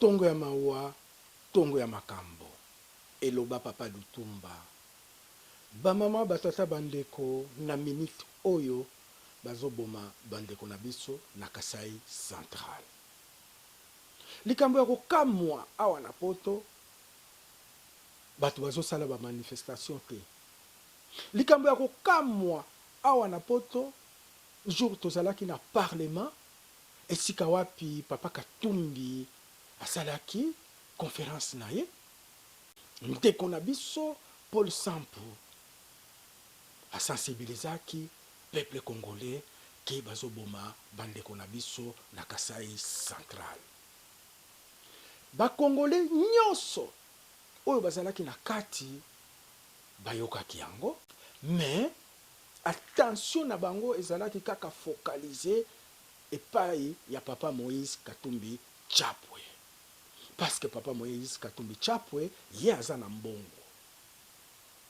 Tongo ya mawa, tongo ya makambo, eloba Papa Lutumba. Ba mama, ba tata, ba ndeko, na minute oyo bazo boma ba ndeko na biso na Kasaï central. Likambo ya ko kamwa awa na poto batu bazo sala ba manifestation te. Likambo ya ko kamwa awa na poto jour tozalaki na parlement Esika wapi papa katumbi asalaki conference na ye? Ndeko na biso Paul Sampu a sensibilisaki peuple congolais que bazo boma ba ndeko na biso na Kasaï central. Ba congolais nionso oyo bazalaki na kati bayokaki yango, mais attention na bango ezalaki kaka focaliser epayi ya papa moise katumbi chapwe parce que papa moise katumbi chapwe ye aza na mbongo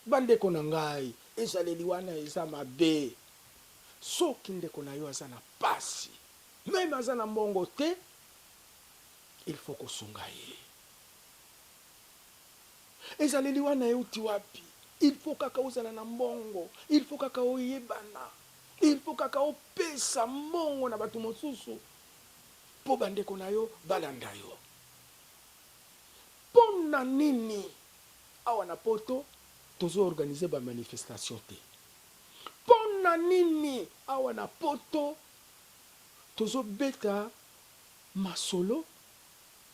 ba ndeko na ngai ezaleli wana eza mabe soki ndeko na yo aza na pasi meme aza na mbongo te il faut ko sunga ye ezaleli wana ewuti wapi il faut kaka ozala na mbongo il faut kaka oyebana Il faut kaka opesa mbongo na batu mosusu po ba ndeko na yo balanda yo? Pona nini awa na poto tozo organiser ba manifestation te? Pona nini awa na poto tozo beta masolo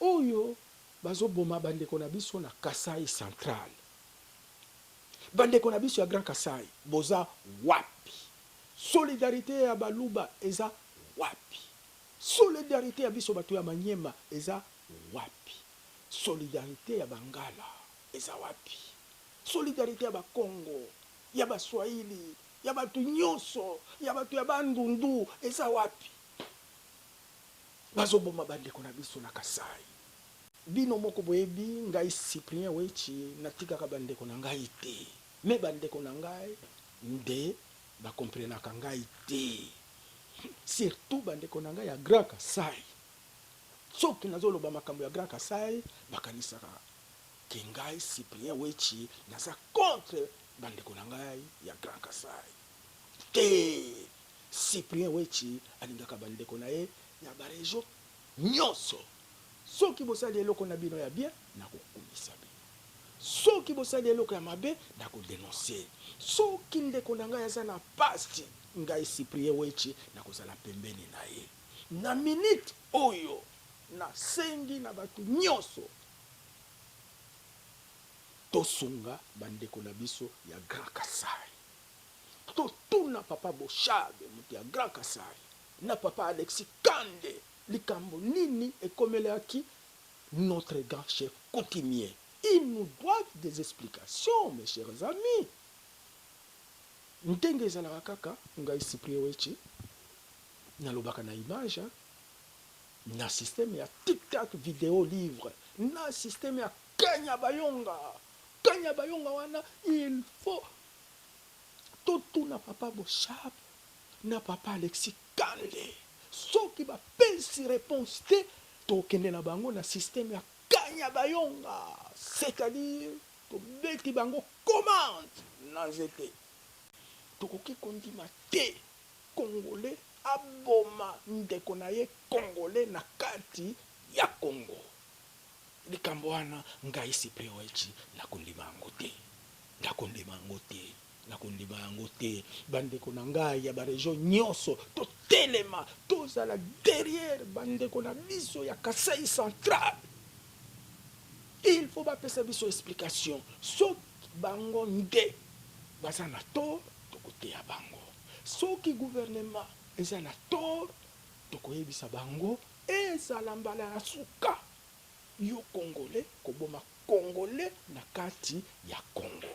oyo bazo boma ba ndeko na biso na Kasaï central? Ba ndeko na biso ya grand kasai boza wapi? Solidarite ya baluba eza wapi? Solidarite ya biso batu ya maniema eza wapi? Solidarite ya bangala eza wapi? Solidarite ya ba kongo, ya ba swahili, ya batu nyoso, ya batu ya bandundu eza wapi? Bazo boma ba ndeko na biso na kasai. Bino moko boyebi ngai Cyprien Wetshi natikaka ba ndeko na ngai te mais ba ndeko na ngai nde ba comprenaka ngai te surtout ba ndeko na ngai ya Grand Kasaï soki nazo loba makambo ya Grand Kasaï bakanisaka que ngai Cyprien Wetshi naza contre ba ndeko na ngai ya Grand Kasaï te Cyprien Wetshi alingaka ba ndeko na ye ya ba region Nyonso. Soki bosali eloko na bino ya bien, nakokumisa bino. Soki bosali eloko ya mabe, nako denoncer ye. Soki ndeko na ngai aza na pasi, ngai Cyprien Wetshi nakozala pembeni na ye. Na minute oyo, nasengi na batu nyonso, tosunga ba ndeko na biso ya Grand Kasaï. Totuna papa Boshab, mutu ya Grand Kasaï, na papa Alexis kande. Likambo nini ekomelaki notre grand chef coutumier? Il nous doit des explications mes chers amis ndenge ezalaka kaka ngai Cyprien Wetshi nalobaka na image hein na système ya tic tac video livre na système ya kanya bayonga kanya bayonga wana il faut totuna papa Boshab na papa Alexis kanle soki ba pesi reponse te toko kende na bango na systeme ya kanyabayonga c'est à dire to beti bango commande na nzete tokoki ko ndima te congolais aboma ndeko na ye congolais na kati ya congo likambo wana ngai cyprien wetshi nako ndima yango te nako ndima yango te. Nakondima yango te bandeko na ngai ya ba region nyoso totelema tozala derrière bandeko na biso ya kasai central il faut bapesa biso explication soki bango nde baza na tort tokoteya bango soki gouvernement eza na tort tokoyebisa bango ezala mbala ya suka yo congolais koboma congolais na kati ya congo.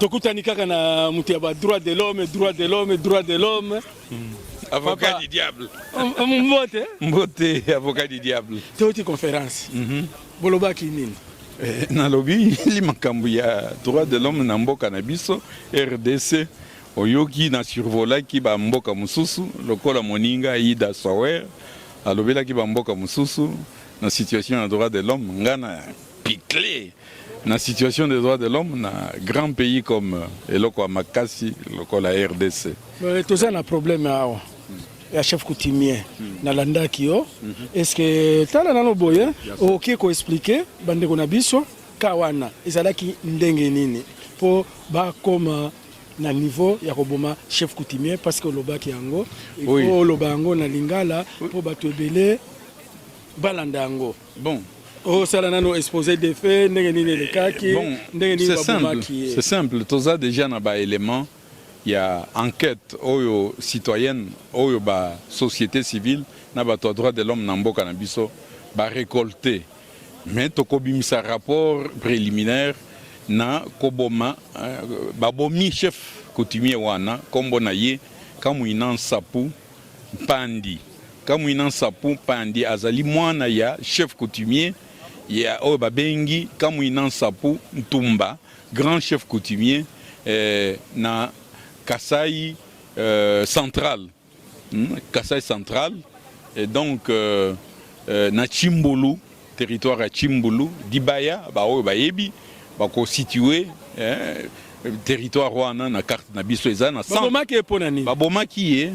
tokutani kaka na moto ya ba droit de l'homme droit de l'homme droit de l'homme hmm. avocat Papa. du diable um, um, mbote mbote avocat du diable toti conférence mm -hmm. bolobaki nini eh, nalobi li makambo ya droit de l'homme na mboka na biso rdc oyoki na survolaki bamboka mosusu lokola moninga ida sower alobelaki bamboka mosusu na situation ya droit de l'homme nga na picle na situation des droits de l'homme na grand pays comme euh, eloko ya makasi lokola rdc euh, toza na problème awa ya chef coutumier hmm. nalandaki yo hmm. est ce que tala nano boye okoki koexplike bandeko na biso ka wana ezalaki ndenge nini mpo bakoma na niveau ya koboma chef coutumier parce que olobaki yango oloba yango na lingala mpo bato ebele balanda yango bon osala nano expose de fait ndenge nini elekaki bon, ndenge nini babomaki ye c'est simple toza déjà na baélément ya enquête oyo citoyenne oyo ba société civile na bato ya droit de l'homme na mboka na biso barecolte mais tokobimisa rapport préliminaire na koboma euh, babomi chef coutumier wana nkombo na ye kamwina nsapu Mpandy Kamuina Nsapu Mpandy azali mwana ya chef coutumier ya oyo babengi Kamuina Nsapu Ntumba, grand chef coutumier eh, na Kasaï euh, central hmm? Kasaï central et donc euh, euh, na Tshimbulu Territoire ya Tshimbulu, Dibaya, ba oyo bayebi bako situer eh, territoire wana na carte na biso eza na centre. Babomaki ye mpo na nini? Babomaki ye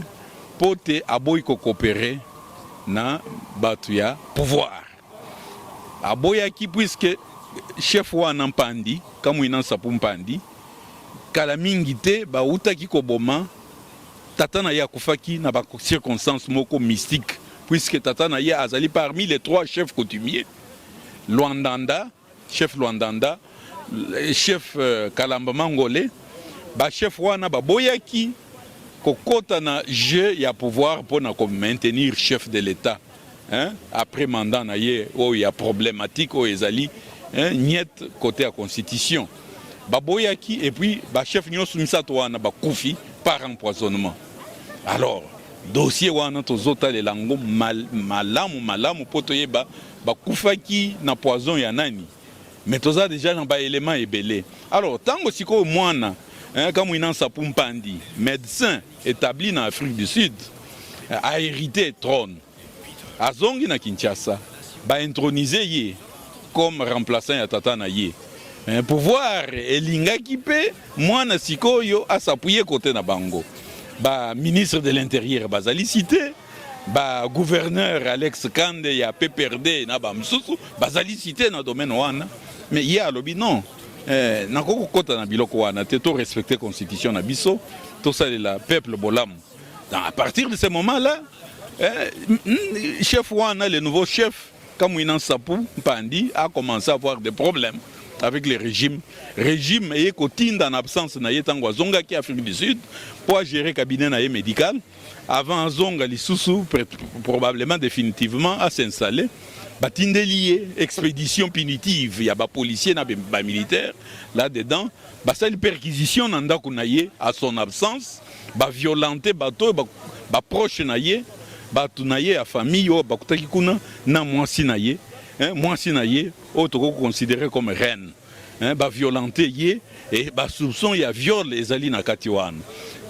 mpo te aboyi ko coopere na bato ya pouvoir, aboyaki puisque chef wana Mpandi Kamwina Nsapu Mpandi kala mingi te bawutaki koboma Tata na ye akufaki na ba circonstances moko mystique puisque tata na ye azali parmi les trois chefs coutumiers Luandanda, chef Luandanda, chef euh, Kalamba Mangole. Ba chefs wana baboyaki kokota na jeu ya pouvoir mpo na ko maintenir chef de l'État. Hein? Après mandat na ye oyo ya problematique oyo ezali hein? Niet côté ya constitution baboyaki et puis ba chef nyonso misato wana bakufi par empoisonnement alors dossier wana tozotalela yango mal, malamu malamu mpo toyeba bakufaki na poison ya nani mais toza deja na baelema ebele alors ntango sikoyo mwana eh, kamwina nsapu mpandi médecin Etabli na Afrique du Sud, a heriter trone, azongi na Kinshasa, ba introniser ye comme remplaçant ya tata na ye. Eh, pouvoir elingaki mpe mwana sikoyo asapuye kote na bango. Ba ministre de l'intérieur bazali cité, ba gouverneur Alex Kande ya PPRD na ba mosusu bazali cité na domaine wana, mais ye alobi non. Eh, nakoki kokota na biloko wana te to respecter constitution na biso tosalela peuple bolamu à partir de ce moment là eh, hmm, chef wana le nouveau chef Kamwina Sapu Mpandi a commencé à avoir des problèmes avec le régime régime eye kotinda na absence na ye ntango azongaki Afrique du Sud mpo agere cabinet na ye médical Avant azonga lisusu probablement definitivement a s'installer batindeli ye expédition punitive ya ba policiers na ba militaires là dedans basali perquisition na ndako na ye à son absence ba violenter bato ba, ba proche na ye bato na ye ya famille oyo bakutaki kuna na mwasi na ye eh, mwasi na ye oyo tokoki koconsidere comme reine hein, ba violente ye et ba soupçon ya viol ezali na kati wana.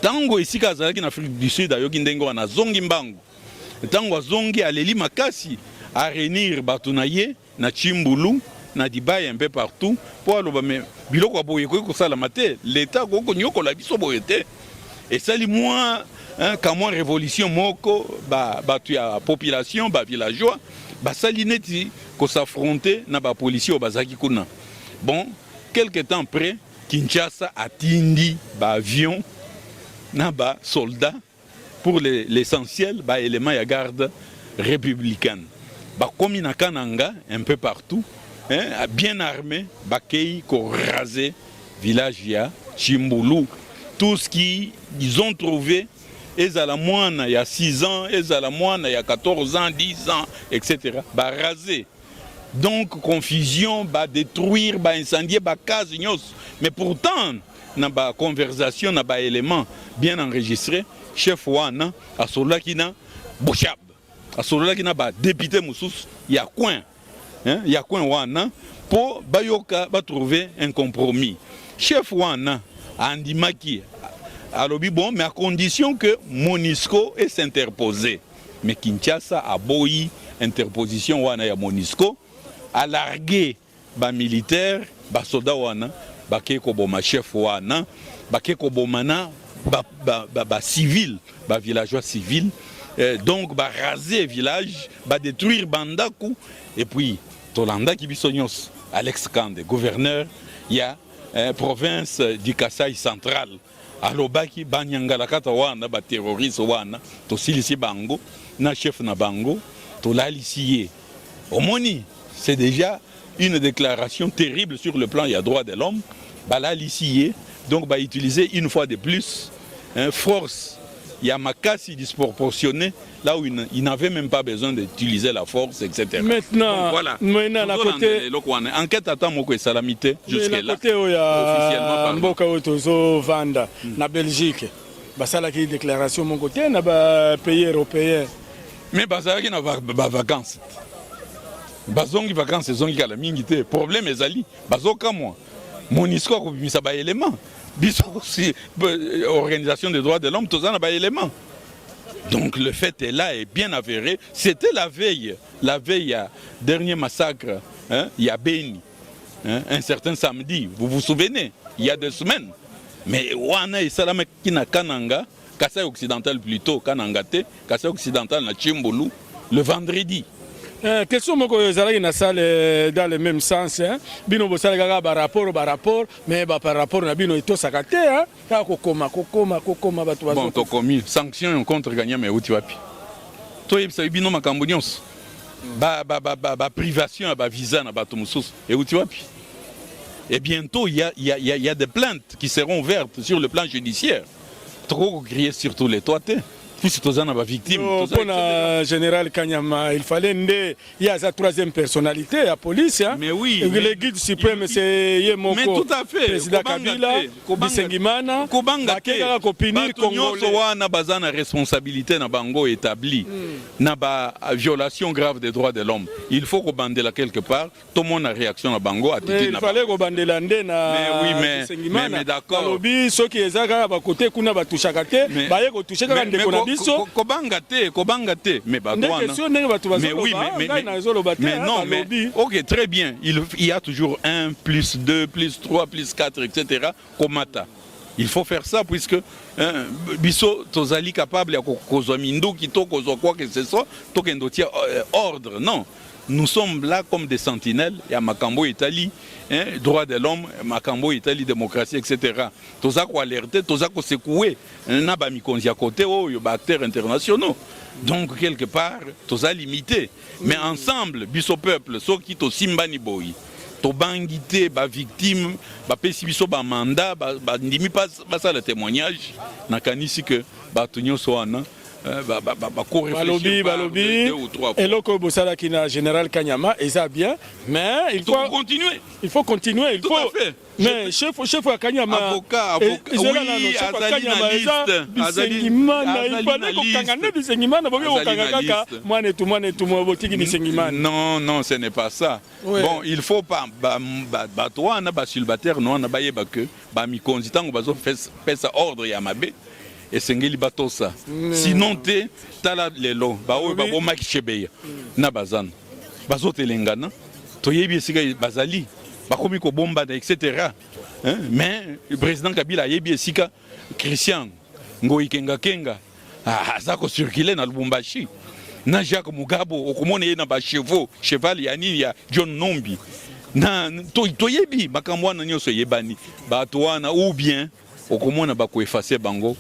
Tango esika azalaki na Afrique du Sud ayoki ndenge wana zongi mbangu. Tango azongi aleli makasi a réunir bato na ye na Chimbulu na Dubaï un peu partout po aloba me biloko ya boye ekoki kosalama te, l'État akoki konyokola biso boye te. Esali mwa kamwa revolution moko ba bato ya population ba villageois basali neti ko s'affronter na ba policiers oyo bazalaki kuna bon quelque temps après Kinshasa atindi ba avions na ba soldats pour l'essentiel ba éléments ya garde républicaine bakomi na Kananga un peu partout hein, bien armé bakei ko raser village ya Chimbulu tout ce qu'ils ont trouvé ezala mwana ya 6 ans ezala mwana ya 14 ans 10 ans etc ba raser donc confusion ba détruire ba incendier ba case nyonso mais pourtant na ba conversation na ba élément bien enregistré chef wana asololaki na boshab asololaki na ba députés mosusu ya coin hein, ya coin wana mpo bayoka ba trouver un compromis. Chef wana andimaki alobi bon mais à condition que Monisco est s'interposer mais Kinshasa aboyi interposition wana ya Monisco alargue Ba militaires ba soda wana bake koboma chef wana bake koboma na ba, ba, ba, ba civil ba villageois civil eh, donc ba raser village ba détruire bandaku et puis tolandaki biso nyonso Alex Kande gouverneur ya eh, province du Kasaï central Alobaki banyangalakata wana ba terroriste wana tosilisi bango na chef na bango tolalisi ye omoni c'est déjà une déclaration terrible sur le plan ya droit de l'homme balalisi ye donc ba utiliser une fois de plus hein, force ya makasi disproportionnée là où il n'avait même pas besoin d'utiliser la force, etc. Maintenant, Donc, voilà. maintenant à côté, enquête attend moko et salamité jusque là. Côté où il y a Mboka Otozo Vanda, hmm. na Belgique, bah ça là qui déclaration mon côté, na bah pays européen. Mais bah ça qui na bah vacances. bazongi vacances ezongi kala mingi te problème ezali bazokamwa monisco akobimisa baélément biso si euh, organisation des droits de l'homme toza na baélément Donc le fait est là et bien avéré, c'était la veille, la veille à dernier massacre, hein, il y a Beni, hein, un certain samedi, vous vous souvenez, il y a deux semaines. Mais wana et salama qui na Kananga, Kassai occidental plutôt, Kananga te, Kassai occidental na Chimbulu, le vendredi. Euh, question moko ezalaki na salle euh, dans le même sens hein. bino bosalaka kaka barapport barapport mais baparapport na bino etosaka te hein. Kaka kokoma, kokoma, kokoma bato bazo. Bon tokomi sanction contre Kanyama euti wapi? Toyebisa bino makambo nyonso. Ba ba ba ba, ba privation ya ba visa na bato mosusu euti wapi? Et bientôt il y a il y a il y a des plaintes qui seront ouvertes sur le plan judiciaire. Tokoki ko crier sur tous les toits te. Puisque toza na ba victimes. Pona General Kanyama, il fallait nde Ye aza troisième personnalité ya police hein? Mais oui, Et le guide suprême c'est ye moko. Mais tout à fait. Président Kabila, Bisengimana, kobanga te. Bakeka ko punir Bato nyonso Congolais. wana baza na responsabilité na bango établi na ba violation grave des droits de l'homme il faut kobandela quelque part tomona réaction na bango Mais attitude il na bango fallait kobandela nde na Mais oui, mais- Bilimana alobi soki eza kaka ba côté kuna ba touchaka te baye ko toucher kaka ndeko na biso ko banga te ko banga te mais ba wana ndenge sio ndenge bato bazo oui, mais mais na zo loba te mais non mais OK très bien il il y a toujours 1 plus 2 plus 3 plus 4 etc. komata il faut faire ça puisque hein, biso tozali capable ya kozwa minduki to kozwa quoi que ce soit tokende otia euh, ordre non Nous sommes là comme des sentinelles ya makambo oyo etali hein, droit de l'homme, makambo oyo etali démocratie etc. Toza ko alerter, toza ko secouer na ba mikonzi ya côté oyo ba acteurs internationaux. Donc quelque part toza limité, mais ensemble biso peuple soki tosimbani boyi tobangi te ba victime bapesi biso ba mandat bandimi ba, basala témoignage nakanisi que bato nyonso wana balobi balobi eloko oyo bosalaki na général kanyama eza bien mais il faut continuer il faut continuer il faut mais chef chef ya kanyama ezela nano chef ya kanyama eza bisengimana ibale kokanga nde bisengimana boke kokanga kaka mwana etu mwana etu botiki bisengimana non non ce n'est pas ça bon il faut pas bato wana basulbataire no wana bayeba que Ba mikonzi tango bazo pesa ordre ya mabe esengeli batosa sinon te tala lelo baoyo babomaki chebeya na bazana bazotelengana toyebi esika bazali bakomi kobombana etc mais président kabila ayebi esika christian ngoyi kengakenga Ah, aza ko circuler na Lubumbashi na Jacques Mugabo, okomona ye na ba chevaux cheval ya nini ya John Numbi na toyebi to makambo wana nyonso eyebani, bato wana ou bien okomona bakoefase bango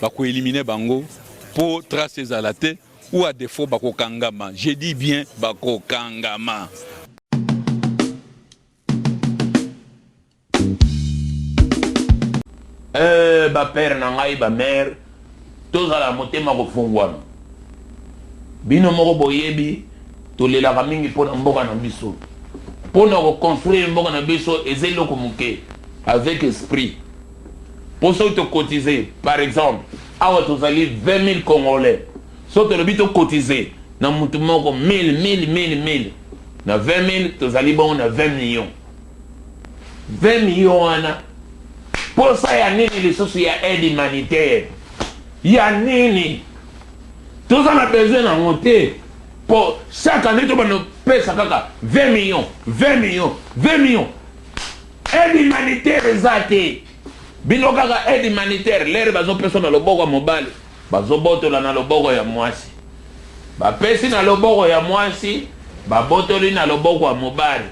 bakoelimine bango mpo trace ezala te, ou a defo bakokangama. Je dis bien bakokangama. Eeh ba père na ngai ba mère tozala motema kofunguana bino moko boyebi tolelaka mingi pona mboka na biso pona ko construire mboka na biso eza eloko muke avec esprit po soki to cotiser par exemple awa tozali 20.000 congolais soki tolobi to cotiser na mutu moko 1000 1000 1000 1000 na 20.000 tozali bongo na 20 millions 20 millions wana posa ya nini lisusu ya aide humanitaire ya nini toza na besoin na ngo te po chaque année to bando pesa kaka 20 millions 20 millions 20 millions aide humanitaire eza te bino kaka aide humanitaire lere bazo pesa na loboko ya mobali Bazobotola na loboko ya mwasi. Bapesi na loboko ya mwasi, babotoli na loboko ya mobali.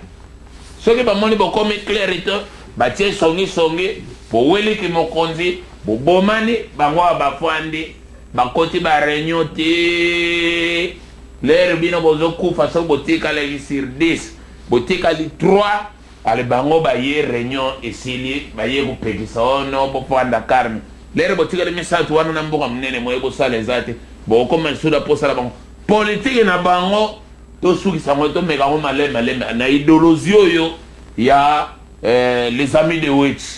Soki bamoni bokomi cleri te, batie songi songi, boweli kimokonzi, bobomani, bango awa bafandi, bakoti ba reunion tii l'heure bino bozokufa soki botikalaki sur dix, botikali trois. Allez bango baye reunion esili baye kopekisa oh non bovanda calme lere botikali misatu wana na mboka munene moye bosala eza te bokokoma lisusu na posa na bango politique na bango tosukisa yango to meka yango malembe malembe na idolozi oyo ya les amis de wetshi.